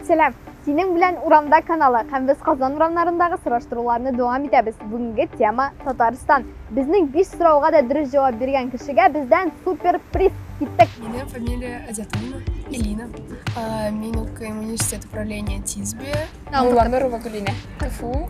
Сәлам! Синең белән урамда каналы һәм без Казан урамнарындагы сораштыруларны дәвам итәбез. Бүгенге тема Татарстан. Безнең биш сорауга да дөрес җавап биргән кешегә бездән супер приз. Киттек! Минем фамилия Азятуллина Элина. Мин укыйм университет управления ТИСБе. Мулланурова Гөлинә. КФУ.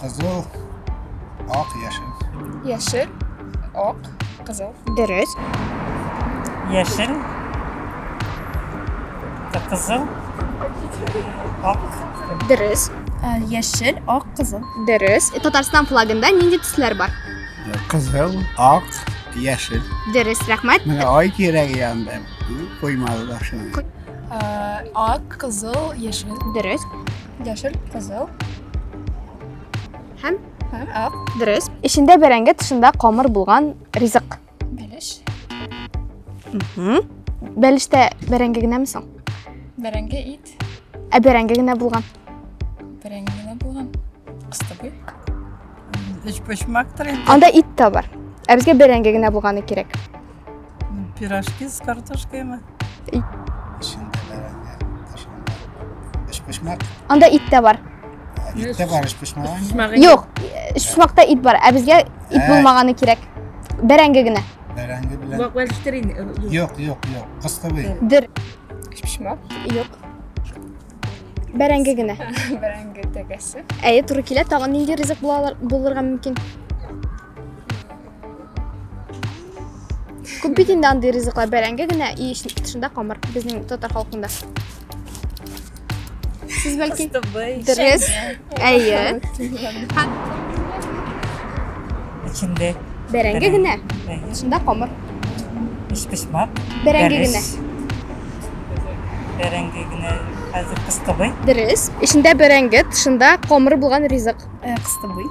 Кызыл, ак, яшел. Яшел, ак, кызыл. Дөрес. Яшел, кызыл, ак. Дөрес. Э, яшел, ак, кызыл. Дөрес. Татарстан флагында нинди төсләр бар? Кызыл, ак, яшел. Дөрес, рәхмәт. Менә ай кирәге янында коймалар шуның. Э, ак, кызыл, яшел. Дөрес. Яшел, кызыл. Һәм? Һәм ак. Дөрес. Эчендә бәрәңге, тышында камыр булган ризык. Бәлеш. Угу. Бәлештә бәрәңге генәме соң? Бәрәңге ит. Ә бәрәңге генә булган. Бәрәңге генә булган. Кыстыбый. Өч почмактыр инде. Анда ит тә бар. Ә безгә бәрәңге генә булганы кирәк. Пирожки с картошкой мы. Эчендә бәрәңге, ташламалар. Өчпочмак. Анда ит тә бар. Ит тә бар, өчпочмак. Шмагы. Юк, шушмакта ит бар, ә безгә ит Ә. булмаганы кирәк. Бәрәңге генә. Бәрәңге белән. Бак вәлштерин. Юк, юк, юк. Кыстыбый. Дер. Шмак. Юк. Бәрәңге генә. Бәрәңге тәгәсе. Әйе, туры килә. Тагын нинди ризык була алар- булырга мөмкин? Күп бит инде андый ризыклар бәрәңге генә и тышында камыр безнең татар халкында. Сез бәлки дөрес. Әйе. Эчендә бәрәңге генә, тышында камыр. Пешпешмак. Бәрәңге генә. Бәрәңге генә. Хәзер кыстыбый. Дөрес. Эчендә бәрәңге, тышында камыр булган ризык. Кыстыбый.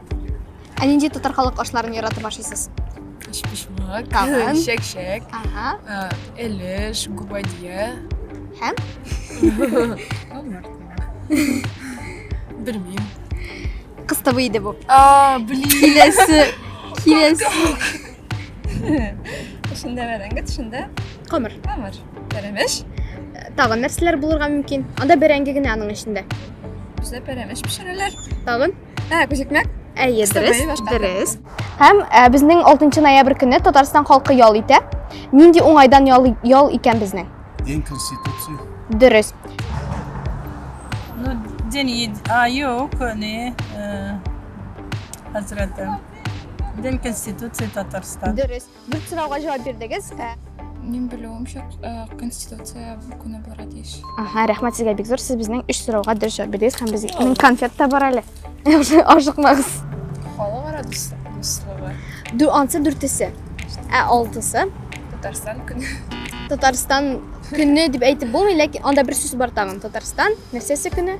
Ә нинди татар халык ашларын яратып ашыйсыз? Чпишмак, Кавын. шәк-шәк, Ага. а, элеш, губадья. Һәм? Белмим. Кыстыбы иде бу. А, блин. Киләсе. Киләсе. Шунда бәрәңге, шунда Камыр. камыр. Пәрәмәш. Тагын нәрсәләр булырга мөмкин? Анда бәрәңге генә аның эчендә. Бездә пәрәмәш пешерәләр. Тагын? Ә, күзикмәк? Әйе, дөрес, дөрес. Һәм ә, безнең 6 ноябрь көне Татарстан халкы ял итә. Нинди уңайдан ял, ял икән безнең? Дин конституция. Дөрес. Ну, дин ед... А, юк, не, э, хәзрәтем. Дин конституция Татарстан. Дөрес. Дүрт сорауга җавап бирдегез. Ә, Мин белүемчә, э, Конституция көне булырга тиеш. Ага, рәхмәт сезгә бик зур. Сез безнең өч сорауга дөрес җавап бирдегез һәм безнең конфет та бар әле. Ашыкмагыз. Халыкара дус- дуслыгы. Дү, ансы дүртесе. Ә алтысы. Татарстан көне. Татарстан көне дип әйтеп булмый, ләкин анда бер сүз бар тагын. Татарстан нәрсәсе көне?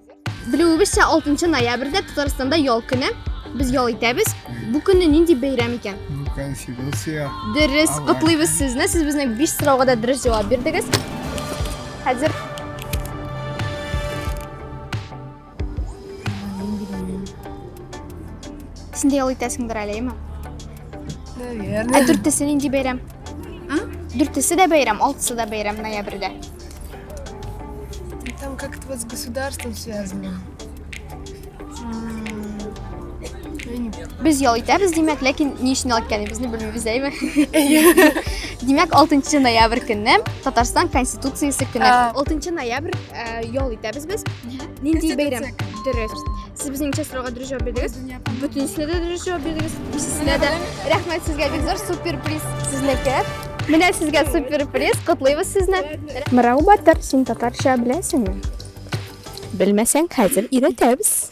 Белүебезчә, 6 ноябрьдә Татарстанда ял көне. Без ял итәбез. Бу көнне нинди бәйрәм икән? Ну, Конституция. Дөрес, Аллах. котлыйбыз сезне. Сез безне биш сорауга да дөрес җавап бирдегез. Хәзер Син дә ял итәсеңдер әле, әйме? Наверное. Ә дүртесе нинди бәйрәм? Дүртесе дә бәйрәм, алтысы да бәйрәм ноябрьдә. Там как-то вот с государством связано. Без ял итәбез, димәк, ләкин ни өчен ял иткәнебезне белмибез, әйме? Димәк, 6 ноябрь көнне Татарстан Конституциясе көне. 6 ноябрь ял итәбез без. Нинди бәйрәм? Дөрес. Сез безнең чәсрога дөрес җавап бирдегез. Бөтенесенә дә дөрес җавап бирдегез. Икесенә дә. Рәхмәт сезгә бик зур супер приз сезнеке. Менә сезгә супер приз. Котлыйбыз сезне. Мырау батыр, син татарча беләсеңме? Белмәсәң, хәзер өйрәтәбез.